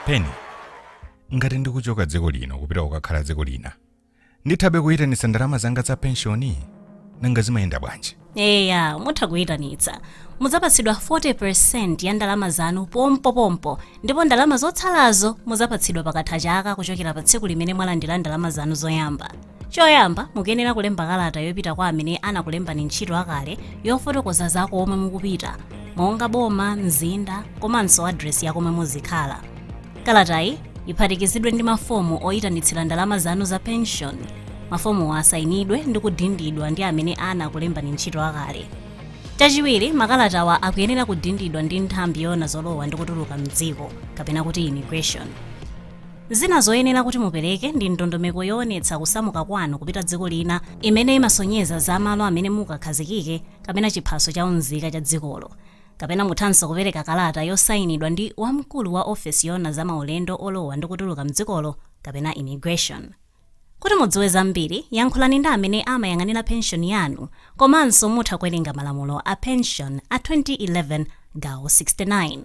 peni ngati ndikuchoka dziko lino kupita kukakhala dziko lina ndithabe kuyitanitsa ndalama zanga za penshoni nanga zimayenda bwanji eya mutha kuyitanitsa mudzapatsidwa 40% ya ndalama zanu pompopompo ndipo ndalama zotsalazo mudzapatsidwa pakatha chaka kuchokera pa tsiku limene mwalandira ndalama zanu zoyamba choyamba mukuyenera kulemba kalata yopita kwa amene anakulembani ntchito akale yofotokoza za komwe mukupita monga boma mzinda komanso adresi ya komwe muzikhala Kalatayi iphatikizidwe ndi mafomu oyitanitsira ndalama zanu za penshoni. Mafomuwa asayinidwe ndi kudindidwa ndi amene anakulembani ntchito akale. Chachiwiri, makalatawa akuyenera kudindidwa ndi nthambi yoona zolowa ndi kutuluka m'dziko, kapena kuti immigration. Zina zoyenera kuti mupereke ndi ndondomeko yoonetsa kusamuka kwanu kupita dziko lina imene imasonyeza za malo amene mukakhazikike kapena chiphaso cha unzika cha dzikolo. Kapena muthanso kupereka kalata yosainidwa ndi wamkulu wa ofesi yoona za maulendo olowa ndi kutuluka m'dzikolo kapena Immigration. Kuti mudziwe zambiri, yankhulani ndi amene amayang'anira penshoni yanu komanso mutha kuwerenga malamulo a penshoni a 2011 gawo 69.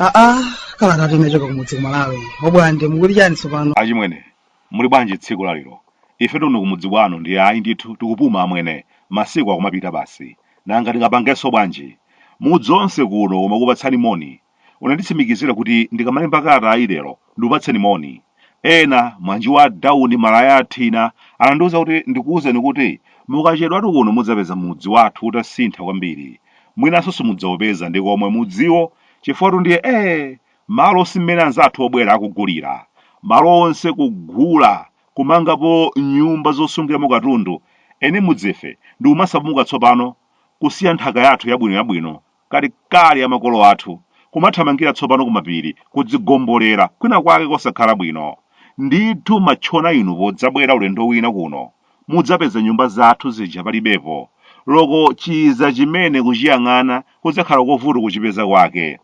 aa kalatayi ikuchoka kumudzi ku Malawi a Bwande mukuti chani tsopano achimwene muli bwanji tsiku lalero ife kuno kumudzi kwanu ndi ayi ndithu tikupuma amwene masiku akumapita basi nanga tingapangenso bwanji mudzi wonse kuno umakupatsani moni unanditsimikizira kuti ndikamalemba kalata ayi lero ndikupatseni moni ena mwanji wa dawuni malaya athina anandiwuza kuti ndikuwuzeni kuti mukachedwatu kuno mudzapeza mudzi wathu utasintha kwambiri mwinanso simudzaupeza nkomwe mudziwo chifukwatu ndiye ee malo si mmene anzathu obwera akugulira malo onse kugula kumangapo nyumba zosungiramo katundu eni mudzife nkumasamuka tsopano kusiya nthaka yathu yabwino yabwino kalekale ya makolo athu, kumathamangira tsopano kumapiri kudzigombolera kwinakwake kosakhala bwino. Ndithu matchona inu podzabwera ulendo wina kuno, mudzapeza nyumba zathu zija palibepo, loko chizachimene kuchiyang'ana kudzakhala kovuta kuchipeza kwake.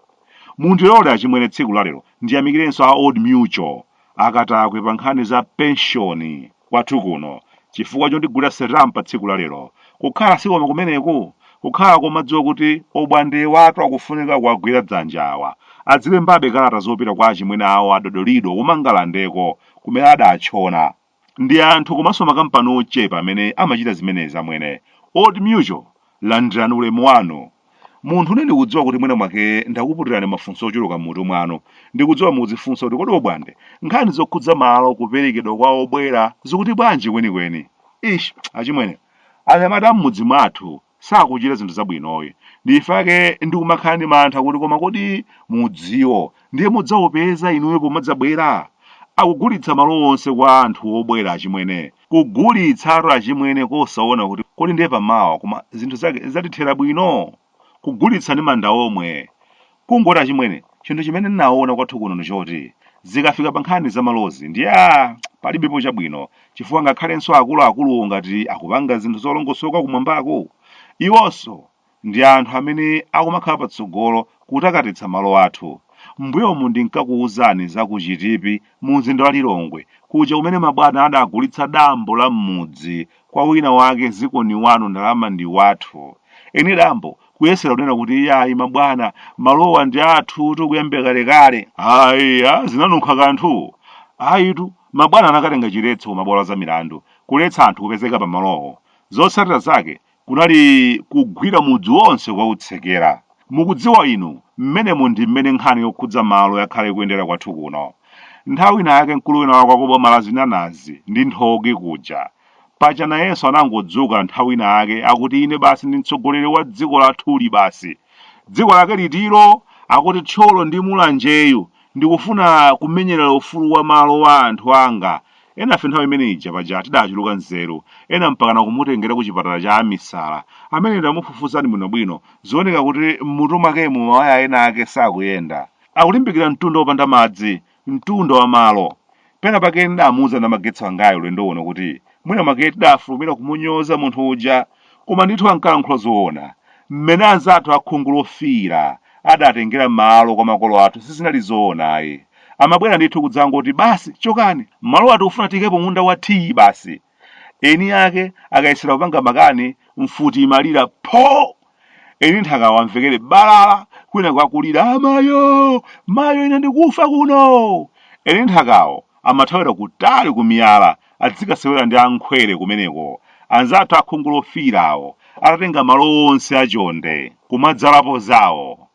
Mundilole achimwene tsiku lalero ndiyamikirenso a Old Mutual akatakwe pa nkhani za penshoni kwathu kuno chifukwa chondigulira sitampa tsiku la lero kukhala sikoma kumeneku kukhala komadziwa kuti obwandewatu akufunika kuwagwira dzanja awa adzilembabe kalata zopita kwa achimwene awo adodolido kumangalandeko kumene adatchona Ndi anthu komanso makampani ochepa amene amachita zimenezi amwene. Old Mutual, landirani ulemu wanu. Munthune ndikudziwa kuti mwina mwake ndakuputirani mafunso ochuluka m'mutu mwanu. Ndikudziwa mukudzifunsa kuti kodi Obwande, nkhani zokhudza malo kuperekedwa kwa obwera zikuti bwanji kwenikweni? Eish, achimwene, anyamata a m'mudzi mwathu sakuchita zinthu zabwinoyi. Ndichifake ndikumakhala ndi mantha kuti koma kodi mudziwo ndiye mudzaupeza inuyo pomadzabwera? Akugulitsa malo onse kwa anthu obwera achimwene. Kugulitsatu achimwene kosaona kuti kodi ndiye pamawa koma zinthu zake zatithera bwino? Kugulitsa ndi manda omwe. Kungoti achimwene, chinthu chimene ndinaona kwathu kuno ndi choti, zikafika pa nkhani za malozi ndiye aah, palibepo chabwino, chifukwa ngakhalenso akuluakuluwo ngati akupanga zinthu zolongosoka kumwambako, iwonso ndi anthu amene akumakhala patsogolo kutakatitsa malo athu. M'mbuyomu ndinkakuuzani za ku Chitipi mumzinda wa Lilongwe kuja kumene mabwana adagulitsa dambo la m'mudzi kwa wina wake ziko ni wanu ndalama ndi wathu eni dambo kuyesera kunena kuti iyayi mabwana malowa ndi athutu kuyambira kalekale aiya zinanunkha kanthu ayitu mabwana anakatenga chiletso ku mabwalo a za milandu kuletsa anthu kupezeka pa malowo zotsatira zake kunali kugwira mudzi wonse kukautsekera Mukudziwa inu, mmenemo ndi mmene nkhani yokhudza malo yakhala ikuyendera kwathu kuno. Nthawi inayake mkulu wina wake wa ku boma la zinanazi ndi nthochi kuja, paja nayenso anangodzuka nthawi inayake akuti ine basi ndi mtsogoleri wa dziko lathuli basi. Dziko lake litilo? Akuti Thyolo ndi Mulanjeyu Ndikufuna kumenyerera ufulu wa malo wa anthu anga. Enafe nthawi imene ija paja tidachuluka nzeru, ena mpakana kumutengera kuchipatala cha amisala. Ameneyu tamufufuzani bwinobwino, zioneka kuti m'mutu mwakemu mawaya ena ake sakuyenda. Akulimbikira mtunda wopanda madzi, mtunda wa malo. Pena pake ndidamuuza Namagetsi wangayu ulendo uno kuti mwina mwake tidafulumira kumunyoza munthu uja. Koma ndithu ankalankhula zoona. Mmene anzathu a khungu lofiira adatengera malo kwa makolo athu sizinali zoona ayi. Amabwera ndithu kudzangoti, Basi, chokani! Malowa tikufuna tiikepo munda wa tiyi basi. Eni ake akayesera kupanga makani, mfuti imalira, Pho! Eni nthakawo amvekere balala kwinaku akulira, Amayo! Mayo ine ndikufa kuno! Eni nthakawo amathawira kutali kumiyala adzikasewera ndi a Nkhwere kumeneko, anzathu a khungu lofiirawo atatenga malo onse a chonde, kumadzalapo zawo.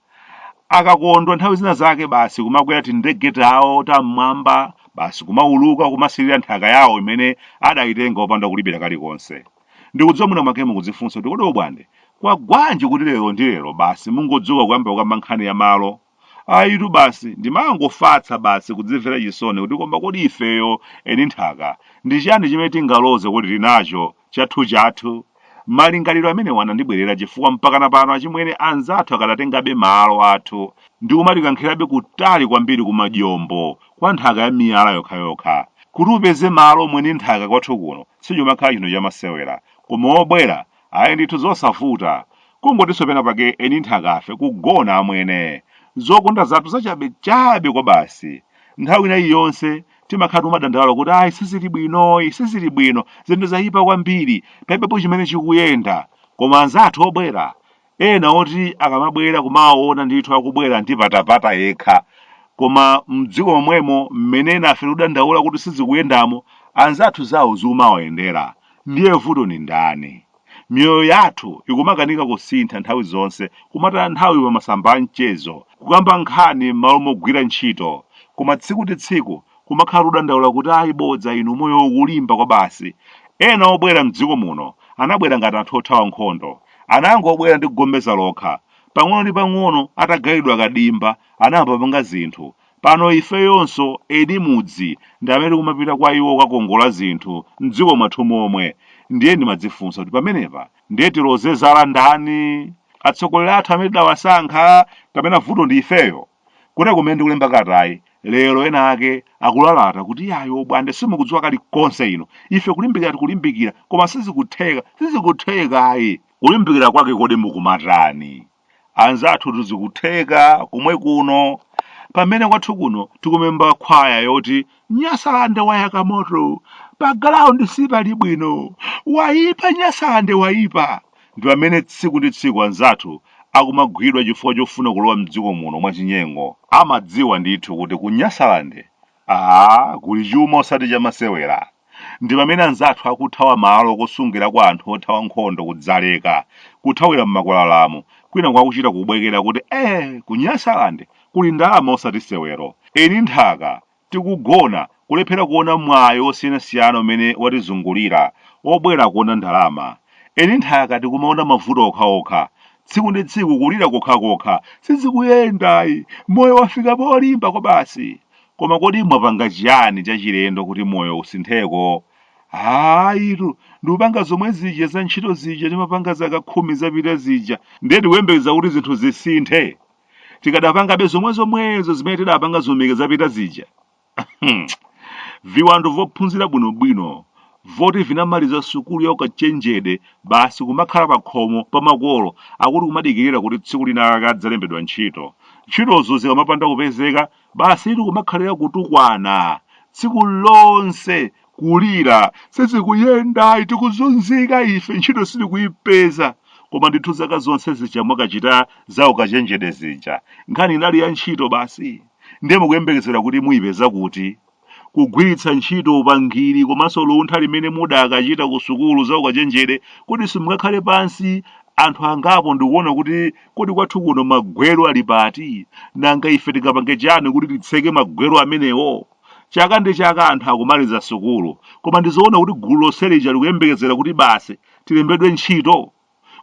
Akakondwa nthawi zina zake basi kumakwera tindege tawo tam'mwamba, basi kumauluka kumasirira nthaka yawo imene adayitenga opanda kulipira kalikonse. Ndikudziwa mwina mwake mukudzifunsa kuti kodi Obwande, kwagwanji kuti lero ndi lero basi mungodzuka kuyamba kukamba nkhani ya malo? ayitu basi ndimangofatsa basi kudzimvera chisoni kuti koma kodi ifeyo eni nthaka ndi chiyani chimene tingaloze kuti tinacho chathuchathu malingaliro amenewa anandibwerera chifukwa mpakana pano achimwene anzathu akadatengabe malo athu ndi kumatikankhirabe kutali kwambiri ku majombo kwa nthaka ya miyala yokhayokha kuti upeze malo mwini nthaka kwathu kuno sichimakhala chinthu chamasewera koma wobwera ayi ndithu zosavuta kungotinso pena pake eni nthakafe kugona amwene zokonda zathu zachabechabe kwa basi nthawi ina iliyonse timakhala tikudandaula kuti ayi sizili bwino ayi sizili bwino zinthu zayipa kwambiri palibepo chimene chikuyenda koma anzathu obwera ena oti akamabwera kumaona ndithu akubwera ndi patapata yekha koma mdziko momwemo mmene enafe tikudandaula kuti sizikuyendamo anzathu zawo zikumawayendera Ndiye vuto ndi ndani? Miyoyo yathu ikumakanika kusintha nthawi zonse, kumataya nthawi pa masamba a mchezo, kukamba nkhani m'malo mogwira ntchito, koma tsiku ndi tsiku kumakhala kudandaula kuti ayi bodza inu moyo ukulimba kwabasi. Ena obwera m'dziko muno anabwera ngati anthu othawa nkhondo. Anangobwera ndi chigombeza lokha. Pang'ono ndi pang'ono atagawiridwa kadimba, anayamba kupanga zinthu. Pano ifeyonso eni mudzi ndi amene tikumapita kwa iwo kukakongola zinthu m'dziko mwathu momwe. Ndiye ndimadzifunsa kuti pamenepa ndiye tiloze zala ndani? Atsogoleri athu amene tidawasankha? Kapena vuto ndi ifeyo? Kuteroko kumene ndikulemba kalatayi, lero ena ake akulalata kuti iyayi obwande simukudziwa kalikonse inu. Ife kulimbikira tikulimbikira, koma sizikutheka, sizikutheka ayi. Kulimbikira kwake kodi mukumatani? anzathutu zikutheka komwe kuno pamene kwathu kuno tikumayimba khwaya yoti nyasalande wayaka moto pa galaundi sipali bwino wayipa nyasalande wayipa ndi pamene tsiku ndi tsiku anzathu akumagwidwa chifukwa chofuna kulowa mdziko muno mwachinyengo amadziwa ndithu kuti ku nyasalande kuli chuma osati chamasewera. Ndipamene anzathu akuthawa malo okusungirako anthu othawa nkhondo ku Dzaleka, kuthawira mmakwalalamu, kwinaku akuchita kubwekera kuti ee ku Nyasalande kuli ndalama osati sewero. Eni nthaka, tikugona, kulephera kuona mwayi wosiyanasiyana umene watizungulira, obwera akuona ndalama. Eni nthaka tikumaona mavuto okhaokha. tsiku ndi tsiku kulira kokhakokha sizikuyenda ayi moyo wafika polimba kwabasi koma kodi mwapanga chiyani chachilendo kuti moyo usintheko hayitu ndikupanga zomwe zija za ntchito zija timapanga zaka khumi zapita zija ndiye tikuyembekeza kuti zinthu zisinthe tikadapangabe zomwe zomwezo zimene tidapanga zaumi khumi zapita zija Hmm. viwando vophunzira bwinobwino voti vinamaliza sukulu ya ukachenjede basi kumakhala pakhomo pa makolo akuti kumadikirira kuti tsiku lina akadzalembedwa ntchito ntchitozo zikamapanda kupezeka basi eti kumakhalira kutukwana tsiku lonse kulira sizikuyenda ayi tikuzunzika ife ntchito sitikuyipeza koma ndithu zaka zonse zija mumakachita za ukachenjede zija nkhani inali ya ntchito basi Ndiye mukuyembekezera kuti muipeza kuti? Kugwiritsa ntchito upangiri komanso luntha limene mudakachita kusukulu za ukachenjede kodi simungakhale pansi anthu angapo ndikuona kuti kodi kwathu kuno magwero ali pati? Nanga ife tingapange chani kuti titseke magwero amenewo? Chaka ndi chaka anthu akumaliza sukulu, koma ndizoona kuti gulu lonse lija likuyembekezera kuti basi tilembedwe ntchito?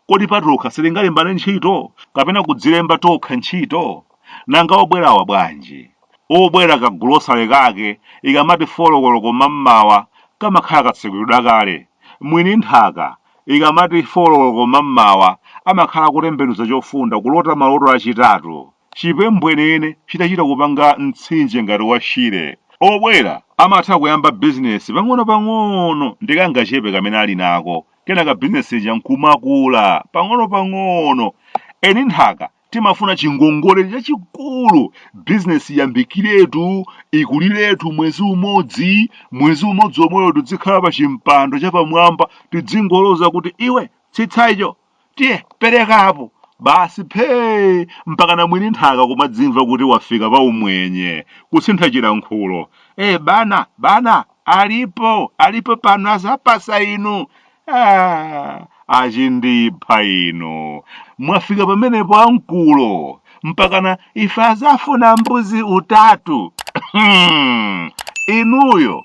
Kodi patokha sitingalembane ntchito kapena kudzilemba tokha ntchito? Nanga obwerawa bwanji? Obwera kagolosale kake ikamati 4 koloko mammawa kamakhala katsekulidwa kale. Mwini nthaka ikamati 4 koloko mammawa amakhala akutembenuza chofunda kulota maloto achitatu. Chipembwenene chidachita kupanga mtsinje ngati wa Shire, obwera amatha kuyamba bizinesi pang'onopang'ono ndi kangachepe kamene ali nako, kenaka bizinesi ija nkumakula pang'onopang'ono. Eni nthaka timafuna chingongole chachikulu, bizinesi iyambikiretu, ikuliretu mwezi umodzi, mwezi umodzi omwewu tidzikhala pa chimpando chapamwamba tidzingoloza kuti, Iwe, tsitsa icho! tiye pereka apo basi phee mpakana mwini nthaka kumadzimva kuti wafika pa umwenye kusintha chilankhulo e bana bana alipo alipo pano azapasa inu ah, achindipha inu mwafika pamenepo amkulu mpakana ife azafuna mbuzi utatu inuyo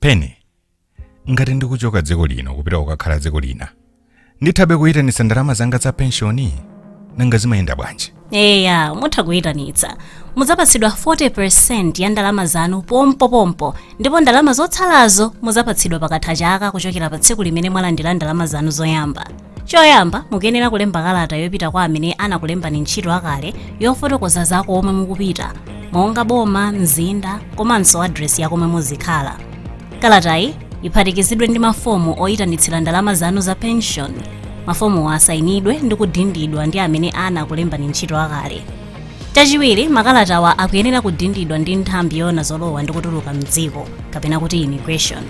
pene ngati ndikuchoka dziko lino kupita kukakhala dziko lina ndithabe kuyitanitsa ndalama zanga za penshoni nanga zimayenda bwanji eya mutha kuyitanitsa mudzapatsidwa 40% ya ndalama zanu pompopompo ndipo ndalama zotsalazo mudzapatsidwa pakatha chaka kuchokera pa tsiku limene mwalandira ndalama zanu zoyamba choyamba mukuyenera kulemba kalata yopita kwa amene anakulembani ntchito akale yofotokoza za komwe mukupita monga boma mzinda komanso adresi ya komwe muzikhala kalatayi iphatikizidwe ndi mafomu oyitanitsira ndalama zanu za pension mafomuwa asayinidwe ndi kudindidwa ndi amene anakulembani ntchito akale chachiwiri makalatawa akuyenera kudindidwa ndi nthambi yoona zolowa ndi kutuluka mdziko kapena kuti immigration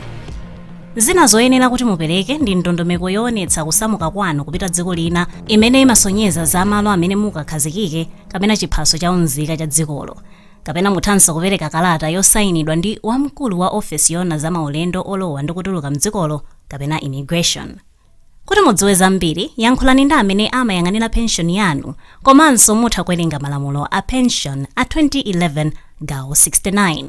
Zina zoyenera kuti mupereke ndi ndondomeko yoonetsa kusamuka kwanu kupita dziko lina imene imasonyeza za malo amene mukakhazikike kapena chiphaso cha unzika cha dzikolo. Kapena muthanso kupereka kalata yosainidwa ndi wamkulu wa ofesi yoona za maulendo olowa ndi kutuluka m'dzikolo kapena Immigration. Kuti mudziwe zambiri, yankhulani ndi amene amayang'anira penshoni yanu komanso mutha kuwerenga malamulo a penshoni a 2011 gawo 69.